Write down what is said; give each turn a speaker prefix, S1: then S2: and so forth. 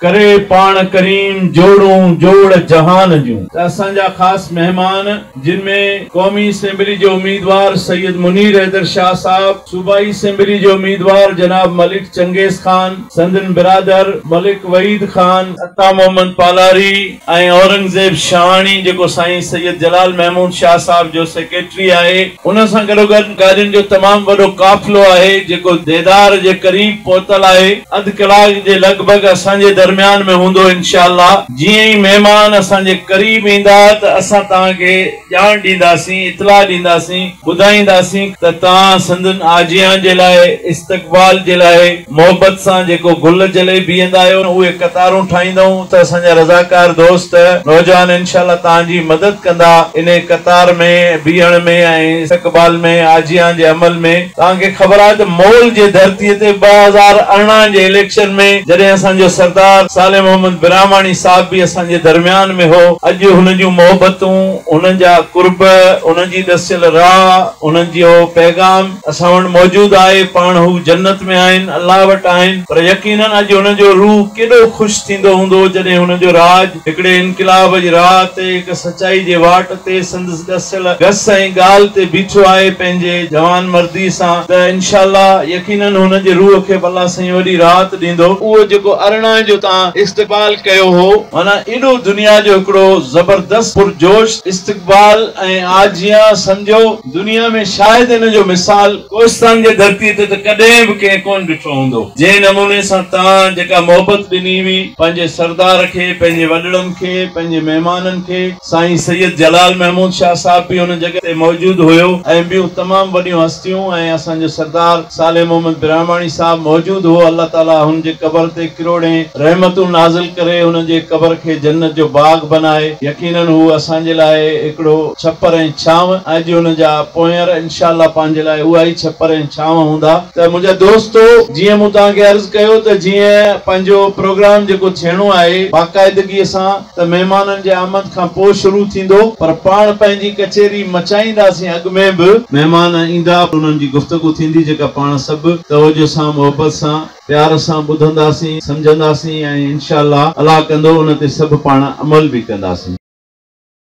S1: ڪري پاڻ ڪريم جوڙون جوڙ جهان جون. ته اسان جا خاص مهمان جن ۾ قومي اسيمبلي جي اميدوار سيد منير حيدر شاهه صاحب، صوبائي اسيمبلي جي اميدوار جناب ملڪ چنگيز خان، سندن برادر ملڪ وحيد خان، عطا محمد پالاري، ۽ اورنگزيب شاهاڻي جيڪو سائين سيد جلال محمود شاهه صاحب جو سيڪريٽري آهي. ان سان گڏوگڏ گاڏين جو تمام وڏو قافلو آهي جيڪو ديدار جي قريب پهتل آهي. اڌ ڪلاڪ جي لڳ ڀڳ اسان جي درميان ۾ هوندو انشاء الله جيئن ئي مهمان اسان جي قريب ايندا ته اسان توهان کي. ڄاڻ ڏينداسين، اطلاع ڏينداسين، ٻڌائينداسين ته توهان سندن آجيان جي لاء استقبال جي لاء محبت سان جيڪو گل جلي بيهندا آهيو، اهي قطارون ٺاهيندؤن ته اسان جا رضاڪار دوست نوجوان انشاء الله توهان جي مدد ڪندا انهي قطار ۾ بيهڻ ۾ ۽ استقبال ۾ آجيان جي عمل ۾. توهان کي خبر آهي ته مئل جي ڌرتيء تي ٻه هزار ارڙهن جي اليڪشن ۾ جڏهن اسان جو سردار صالح محمد براهماڻي صاحب به اسان جي درميان ۾ هو، اڄ هن جون محبتون، هن جا قرب، هن جي ڏسيل راهه، هن جو پيغام اسان وٽ موجود آهي، پاڻ هو جنت ۾ آهن، الله وٽ آهن، پر يقينن اڄ هن جو روح ڪيڏو خوش ٿيندو هوندو جڏهن هن جو راڄ، هڪڙي انقلاب جي راهه تي، هڪ سچائي جي واٽ تي سندس ڏسيل گس ۽ ڳالهه تي بيٺو آهي پنهنجي جوانمردي سان ته انشاء الله يقينن هن جي روح کي به الله سائين وڏي راحت ڏيندو. اهو جيڪو ارڙهن جو تان استقبال ڪيو هو. معنيٰ ايڏو دنيا جو هڪڙو زبردست پرجوش استقبال ۽ آجيان سمجهو. دنيا ۾ شايد ان جو مثال ڪوهستان جي ڌرتيء تي ته ڪڏهن به ڪنهن ڪونه ڏٺو هوندو. جنهن نموني سان تان جيڪا محبت ڏني هئي، پنهنجي سردار کي، پنهنجي وڏڙن کي، پنهنجي مهمانن کي، سائين سيد جلال محمود شاهه صاحب به ان جڳهه تي موجود هيو ۽ ٻيون تمام وڏيون هستيون ۽ اسان جو سردار صالح محمد براهماڻي صاحب موجود هو، الله تعاليٰ هن جي قبر تي ڪروڙين رحمتون نازل ڪري، هن جي قبر کي جنت جو باغ بنائي، يقيناً هو اسان جي لاء هڪڙو ڇپر ۽. ڇانو ۽ اڄ ان جا پونئير انشاء الله پنهنجي لاء اها ئي ڇپر ۽ ڇانو هوندا. ته منهنجا دوستو جيئن مون توهان کي عرض ڪيو ته جيئن پنهنجو پروگرام جيڪو ٿيڻو آهي باقاعدگيء سان ته مهمانن جي آمد کان پوء شروع ٿيندو پر پاڻ پنهنجي ڪچهري مچائينداسين اڳ ۾ به مهمان ايندا انهن جي گفتگو ٿيندي جيڪا پاڻ سڀ توجهه سان محبت سان پيار سان ٻڌنداسين سمجهنداسين ۽ انشاء الله الله ڪندو ان تي سڀ پاڻ عمل به ڪنداسين.